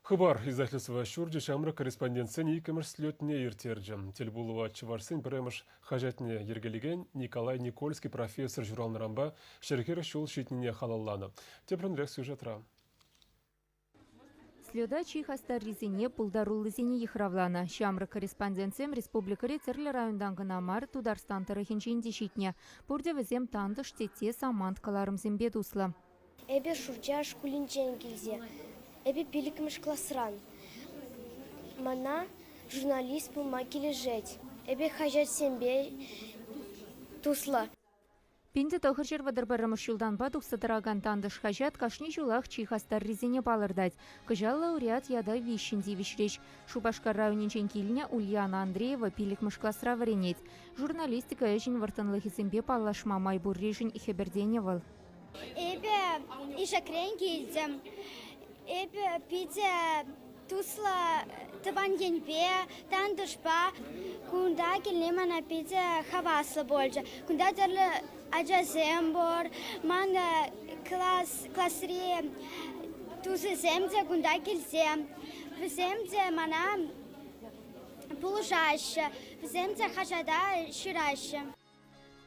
Хыпар издательство ҫурчӗ ҫамрӑк корреспондентсен иккӗмӗш слетне ирттерчӗ. Тӗл пулӑва чӑвашсен пӗрремӗш хаҫатне йӗркелекен Николай Никольский профессор ҫуралнӑранпа ҫӗр-хӗр ҫул ҫитнине халалланӑ. Тепринрех сюжетра. Слета чи хастаррисене, пултаруллисене йыхравланӑ. Ҫамрӑк корреспондентсем республикӑри тӗрлӗ районтан кӑна мар, Тутарстан тӑрӑхӗнчен те ҫитнӗ. Пурте вӗсем тантӑш, тетте, самант кӑларӑмсемпе туслӑ. Эпӗ Шурча шкулӗнчен килсе, эпӗ пиллӗкмӗш класран. Мана журналист пулма килӗшет. Эпӗ хаҫатсемпе туслӑ. Пӗнтӗ тӑхӑрҫӗр вӑтӑр пӗрремӗш ҫултанпа тухса тӑракан тантӑш хаҫат кашни ҫулах чи хастаррисене палӑртать. Кӑҫаллӑ лауреат ята виҫҫӗн тивӗҫрӗҫ. Шупашкар районӗнчен килнӗ Ульяна Андреева пиллӗкмӗш класра вӗренет. Журналистика ӗҫӗн вӑрттӑнлӑхӗсемпе паллашма май пурришӗн хӗпӗртенӗ вӑл. Эпӗ ишекрен килтӗм. Эпӗ питӗ туслӑ тӑван енпе, тантӑшпа. Кунта килни мана питӗ хаваслӑ пулчӗ. Кунта тӗрлӗ ачасем пур. Ман класс, класри тусӗсем те кунта килсе, вӗсем те мана пулӑшаҫҫӗ, вӗсем те хаҫата ҫыраҫҫӗ.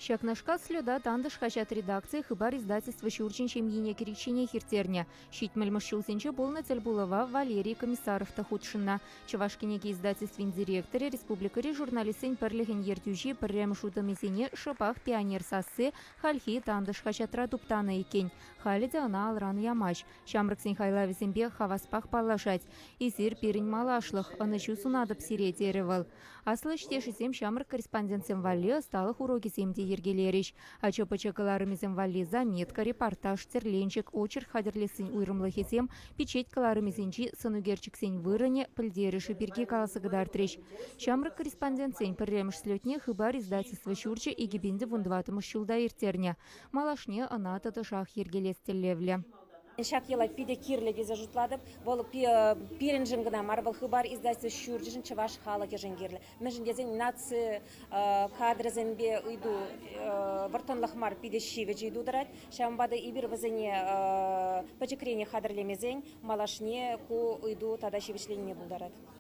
Ҫакнашкал слета Тантӑш хаҫат редакцийӗ Хыпар издательство ҫурчӗн ҫемйине кӗричченех ирттернӗ. Ҫитмӗлмӗш ҫулсенче пулнӑ тӗл пулӑва Валерий Комиссаров та хутшӑннӑ. Чӑваш кӗнеке издательствин директорӗ республикӑри журналистсен пӗрлӗхӗн ертӳҫи пӗрремӗш утӑмӗсене шӑпах «Пионер сасси» хальхи Тантӑш хаҫатра туптанӑ иккен. Халӗ те ӑна алран ямасть. Ҫамрӑксен хайлавӗсемпе хаваспах паллашать. «Эсир пирӗн малашлӑх, ӑнӑҫу сунатӑп сире», терӗ вӑл. Аслӑ ӗҫтешӗсем ҫамрӑк корреспондентсем валли ӑсталӑх урокӗсем те йӗркелерӗҫ. Ача-пӑча кӑларӑмӗсем валли заметка, репортаж, тӗрленчӗк, очерк хатӗрлессин уйрӑмлӑхӗсем, пичет кӑларӑмӗсенчи сӑнӳкерчӗксен вырӑнӗ, пӗлтерӗшӗ пирки каласа кӑтартрӗҫ. Ҫамрӑк корреспондентсен пӗрремӗш слетне Хыпар издательство ҫурчӗ икӗ пин те вунтӑватӑмӗш ҫулта ирттернӗ. Малашне ӑна тӑтӑшах йӗркелес тӗллевлӗ. Ҫак йӑла питӗ кирлӗ тесе шутлатӑп. Вӑл пирӗншӗн кӑна мар, вӑл Хыпар издательство ҫурчӗшӗн чӑваш халӑхӗшӗн кирлӗ. Мӗншӗн тесен наци кадрӗсемпе ыйту вӑрттӑнлӑх мар, питӗ ҫивӗч ыйту тӑрать. Ҫавӑнпа та эпир вӗсене пӗчӗкренех хатӗрлемесен малашне ку ыйту тата ҫивӗчленине пултарать.